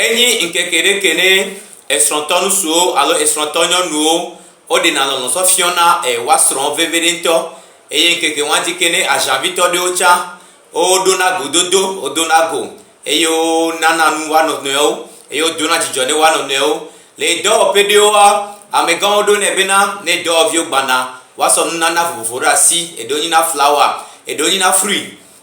Enyi ŋkeke ɖe ke ne esrɔ̃tɔ ŋutsuwo alo esrɔ̃tɔ nyɔnuwo woɖena lɔlɔ̃ tsɔ fiɔna woa srɔ̃wo veviɖe ŋutɔ eye ŋkeke ma dzi ke ne aʒavitɔ ɖewo tsã woɖona gododo, wodona go eye wonana nu woa nɔnɔewo eye wodona dzidzɔ ne woa nɔnɔewo. Le dɔwɔƒe ɖewoa, amegãwo ɖonɛ bena ne dɔwɔviwo gbana woasɔ nunana vovovowo ɖe asi. Eɖewo nyina flawa, eɖewo nyina fruit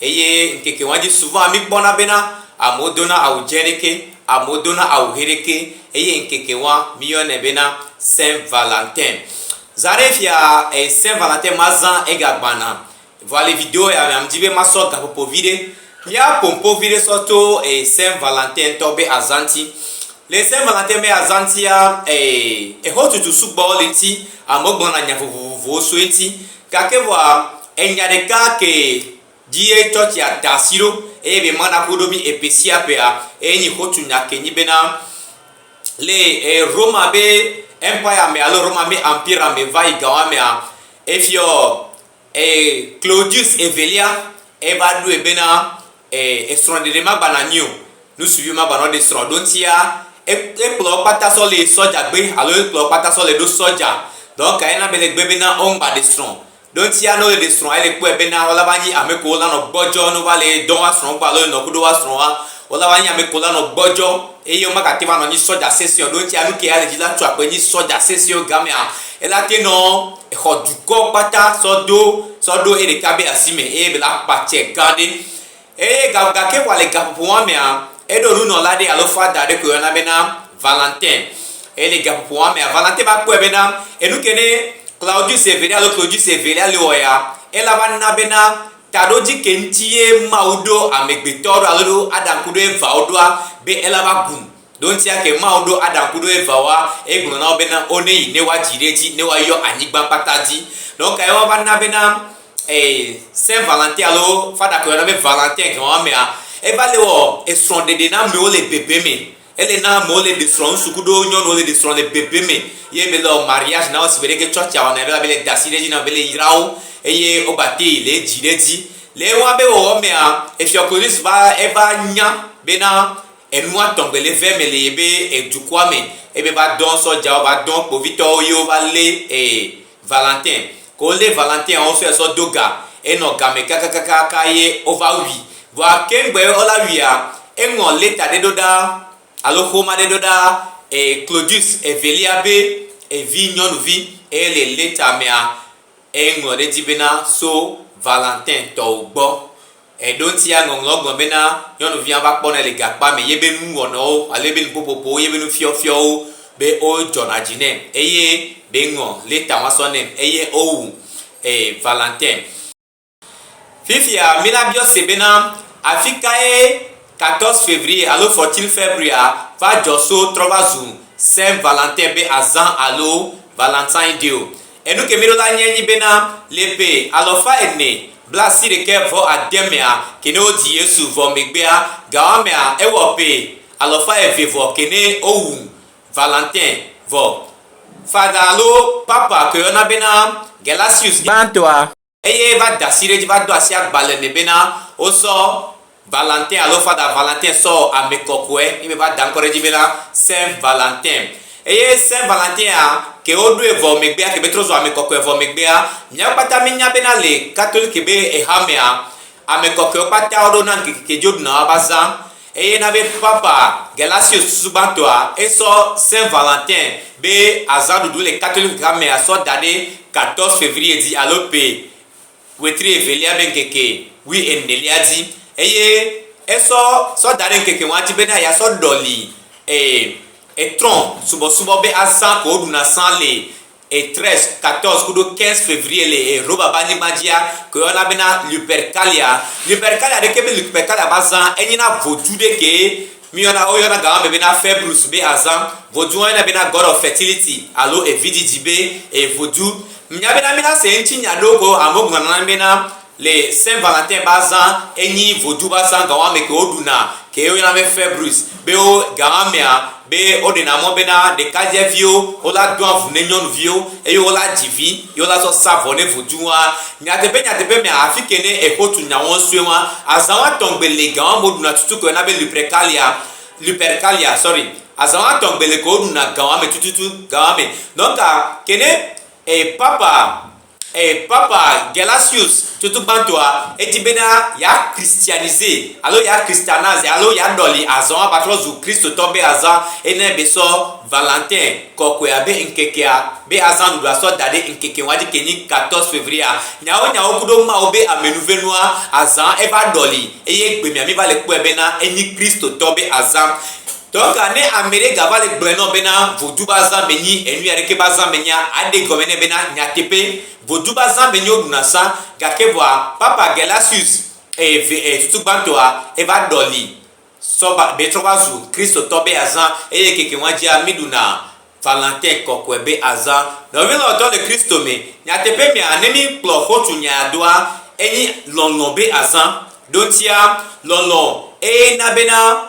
Eye ŋkeke ma dzi suvaa míkpɔna bena amewo dona awu dzẽ ɖekɛ, amewo dona awu ʋe ɖekɛ, eye ŋkeke ma míyɔnɛ bena Saint Valentin. Zã ɖe fia Saint Valentin ma zã ega gbana, vɔa le video ya mea, mdi be masɔ gaƒoƒo vi ɖe mía ƒo ƒo vi ɖe sɔ to Saint Valentin ŋutɔ be azã ŋuti. Le Saint Valentin be azã ŋutia, exɔtutu sugbɔ le ŋuti, amewo gblɔna nya vovovowo so eŋuti. Gake vɔa, enya ɖeka kee dzie tsɔtsia da asi ɖo eye be mana ƒoɖo mí eƒe sia ƒea, eye nyi xotu nya ke nyi bena, le Roma be Empire me alo Roma be Ampire me va yi gawa mea, Efiɔ Claudius Evelia eva ɖoe bena, E, esrɔ̃ ɖeɖe magbanɔ anyi o. Nusuvi magbanɔ ɖe srɔ̃ ɖo ŋtia. E, ekplɔ kpata sɔ le sɔdja gbe alo ekplɔ kpata sɔ le ɖo sɔdja. Dɔ kae na bele gbe bena o ŋgba ɖe srɔ̃? Ɖo ŋtia ne ole ɖe srɔ̃ ele kpɔe bena ola va nyi ame ko ola nɔ gbɔdjɔ ne ova le dɔ wa srɔ̃ gbɔ alo enɔ kuɖo wa srɔ̃ wa, ola va nyi ame ko ola nɔ gbɔdjɔ. Eye womagate ŋu anɔ nyi sɔdja sesẽ o, ɖo ŋtsia nuke ale dji la tu akpe nyi sɔdja sesẽwo gamea, elate nɔ exɔ dukɔ kpata sɔ do sɔ ɖo eɖeka be asi me, eye bela kpa tsɛ gã ɖe. Eye ga gake vɔa le gaƒoƒo ma mea, eɖo nunɔla ɖe alo fada ɖe koe woyɔna bena Valentin. Eye le gaƒoƒo ma mea, Valentin va kpɔe bena enuke ne Claudius evelia alo Clodius evelia le wɔ ya, ela va na bena Taɖodzi ke ŋuti ye Mawu ɖo amegbetɔwo ɖo alo ɖo Adam kuɖo Evawo ɖoa? Be ela va gun. Ɖo ŋutia ke Mawu ɖo Adam kuɖo Evawoa, egblɔ na wo bena wo ne yi ne woa dzi ɖe edzi ne woa yɔ anyigba kpata dzi. Nɔ kae woava na bena ee, Saint Valentin alo Fada ke woyɔna be Valentin ke wɔ amea, eva le wɔ esrɔ̃ɖeɖe na amewo le bebe me. Ele na amewo le ɖe srɔ̃, ŋutsu kuɖo nyɔnuwo le ɖe srɔ̃ le bebe me ye me le wɔ mariage na wo si gbe ɖe ke tsɔtsia wɔnɛ ɖo abe le da asi ɖe edzi na wo be le yra wo eye wo gba te le edzi ɖe edzi. Le ewa be wɔwɔ mea, Efiɔ Clovis va eva nya be na enua tɔ̃ gbe le vɛ me le yebe edukɔa me ebe va dɔ̃ sɔdjawo va dɔ̃ kpovitɔwo ye wo va le e. Valentin, ke wolé Valentin wo fia sɔ do ga, e nɔ gamɛ kakakakaka ye wo va wui. Vɔa keŋgbɔ ye wo la wuia, e ŋlɔ leta ɖe ɖo ɖa alo xoma ɖe ɖo ɖa e Clodius evelia be evi nyɔnuvi eye le leta mea e ŋlɔ ɖe dzi bena so Valentin tɔwo gbɔ. Eɖoŋtia ŋɔŋlɔ gblɔ bena, Nyɔnuvia va kpɔnɛ le gakpɔa me, yebe nu wɔnɔwo alo yebe nuƒoƒoƒowo, yebe nufiɔfiɔwo be wo dzɔna dzi nɛm eye be ŋɔ leta wa sɔ nɛm eye wo wu ee Valentin. Fifia mi la biɔ se bena, Afikae 14 Fevrier alo 14 February va dzɔ so trɔ va zu Saint Valentin be azã alo Valentine Day o? Enu ke míɖo la nye nyi bena, le ƒe alɔfa ene bla asi ɖekɛ vɔ ade mea kene wodzi Yesu vɔ megbea, gawa mea ewɔ ƒe alɔfa eve vɔ kene wowu Valentin vɔ. Fada alo Papa ke woyɔna bena Gelasius I. Gbãtɔa, eye va da asi ɖe edzi va do asi agba le eme bena wosɔ Valentin alo Fada Valentin sɔ wɔ ame kɔkɔe ye me va da ŋkɔ ɖe edzi bena Saint Valentin. Eye Saint Valentin ya ke woɖoe vɔ megbea ke be trɔ zu ame kɔkɔe vɔ megbea mía kpata míenya bena le Katoliki be ehamea ame kɔkɔewo kpata woɖo na ŋkeke ke dzi woɖuna woava zã. Eye na be Papa Gelasius susu gbãtɔa esɔ Saint Valentin be azã ɖuɖu le Catholic ha mea sɔ da ɖe 14 Fevrier dzi alo Pe, ɣletri evelia be ŋkeke wui enelia dzi. Eye esɔ sɔ da ɖe ŋkeke ŋua dzi bena ya sɔ ɖɔli e etrɔn subɔsubɔ be azã ko woɖuna sã le. Et 13, 14 kuɖo 15 Février le Europa ƒe anyigba dzia, ke woyɔna bena Lupercalia. Lupercalia ɖekee menye Lupercalia ƒe azã, enye na vodzu ɖe kee. Míeyɔna, woyɔna ga ma me bena Fébrus be azã. Vodzu hã woyɔnɛ bena God of Fertility alo evidzidzi be evodzu. Menya bena mína se eŋuti nya ɖewo ko amewo gblɔna na mí bena Le Saint Valentin ba zã enyi vodu ba zã gawa me ke wo ɖu na ke wo yɔna be Februis be wo gawa mea be wo ɖe na mɔ be na ɖekadze viwo wo la doa ŋu ne nyɔnu viwo eye wo la dzi vi ye wo la zɔ sa vɔ ne vodu wa. Nyateƒe nyateƒe mea afi ke ne exo tu nya wɔn sue wa azã wa tɔn gbe le gawa me wo ɖu na tutu ke wo yɔna be Lupercalia Lupercalia sorry azã wa tɔn gbe le ke wo ɖu na gawa me tututu gawa me donka ke ne e papa Eye Papa Gelasius tutugbãtɔa, edi bena yea christianiser, alo yea christianiser, alo yea ɖɔli azɔa va trɔ zu Kristotɔ be azã ene be sɔ Valentin kɔkɔea be ŋkekea, be azã ɖuɖua sɔ da ɖe ŋkeke ŋua dike nyi 14 Fevrier-a. Nyawo nyawo kuɖo Mawu be amenuvenua, azã eva ɖɔli, eye gbemea mi va le kpɔe bena enyi Kristotɔ be azã. Dɔka ne amɛɖe gava le gblɔɛ nɔ bena vodu ba zã me nyi enuya ɖekɛ ba zã me nyia, aɖe gɔme nɛ bena nyateƒe vodu ba zã me nyi woɖuna sa, gake vɔa Papa Gelasius eye ve eye susu gbãtɔa eva ɖɔli sɔ va be trɔ va zu Kristotɔ be azã eye keke nua dzia mi ɖuna Valentin kɔkɔɛ be azã. Nɔvi lɔlɔtɔ le Kristo me, nyateƒe mea ne mi kplɔ xotu nyaya doa enyi lɔlɔ be azã. Ɖoŋtia, lɔlɔ eye na bena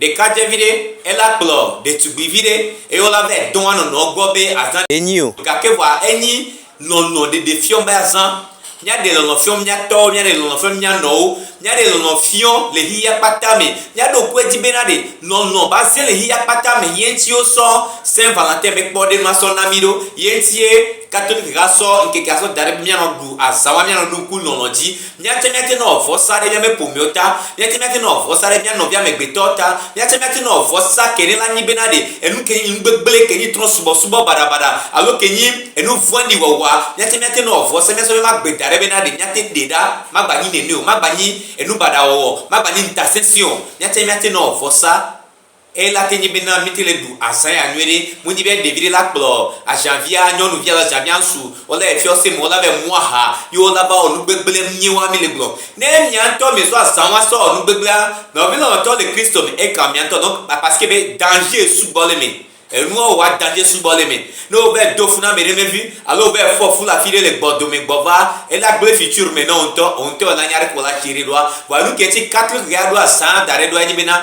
Ɖeka dze viɖe, ela kplɔ ɖetugbi viɖe eye wola be edɔa nɔnɔ gbɔ be azã ɖe nyi o. Gake vɔa enyi lɔlɔ ɖeɖe fiɔ be azã. Mía ɖe lɔlɔ fiɔ mía tɔwo, mía ɖe lɔlɔ fiɔ mía nɔwo, mía ɖe lɔlɔ fiɔ le xiya kpata me. Mía ɖo ŋku edzi be na ɖe lɔlɔ va zẽ le xiya kpata me ye ŋuti wo sɔ Saint Valentin be kpɔ ɖe ma sɔ na mí ɖo. Ye ŋuti ye Katolik ha sɔ ŋkekea sɔ daɖe be mía nɔ ɖu azã wa mía nɔ ɖu ŋku lɔlɔ dzi. Míatsɛ míate ŋu awɔ vɔsa ɖe míaƒe ƒomewo ta. Míatsɛ míate ŋu awɔ vɔsa ɖe mía nɔvia amegbetɔwo ta. Míatsɛ míate ŋu awɔ vɔsa ke ne la nyi bena ɖe enu ke nyi nu gbegblẽ, ke nyi trɔ̃subɔsubɔ baɖabaɖa alo ke nyi enu vɔ̃ɖi wɔwɔa, míatsɛ míate ŋu awɔ vɔsa míasɔ míaƒe agbe da ɖe bena ɖe míate ɖee ɖa. Magbanyi nene o. Magbanyi enu baɖa wɔwɔ o. Magbanyi ŋutasesẽ o. Míatsɛ míate ŋu awɔ vɔsa. Eyela ke nye be na mite le ɖu azã ya nyuiɖe. Modi be ɖevi ɖe la kplɔ azãvia nyɔnuvi alo azãvia ŋsu wola yi fiɔse me wola va yi mu aha ye wola va wɔ nugbegble miewoa mile gblɔm. Ne mia ŋtɔ miezu azã wa sɔ wɔ nugbegblea, nɔvi lɔlɔtɔ le Kristo me eka mia ŋtɔ nɔ kpakpasike be dange sugbɔ le eme. Enua wɔwɔa dange sugbɔ le eme. Ne wo va yi do fu na ameɖe vevi alo wo va yi fɔ fu le afiɖe le gbɔ dome gbɔ vaa, ela gblɔe fitsiur me nɔ woŋtɔ, woŋtɔ ela nya ɖe ko la tsi ɖe ɖoa. Vɔa nuke ŋti Catholic ɣea ɖo azã daɖe ɖoa enye be na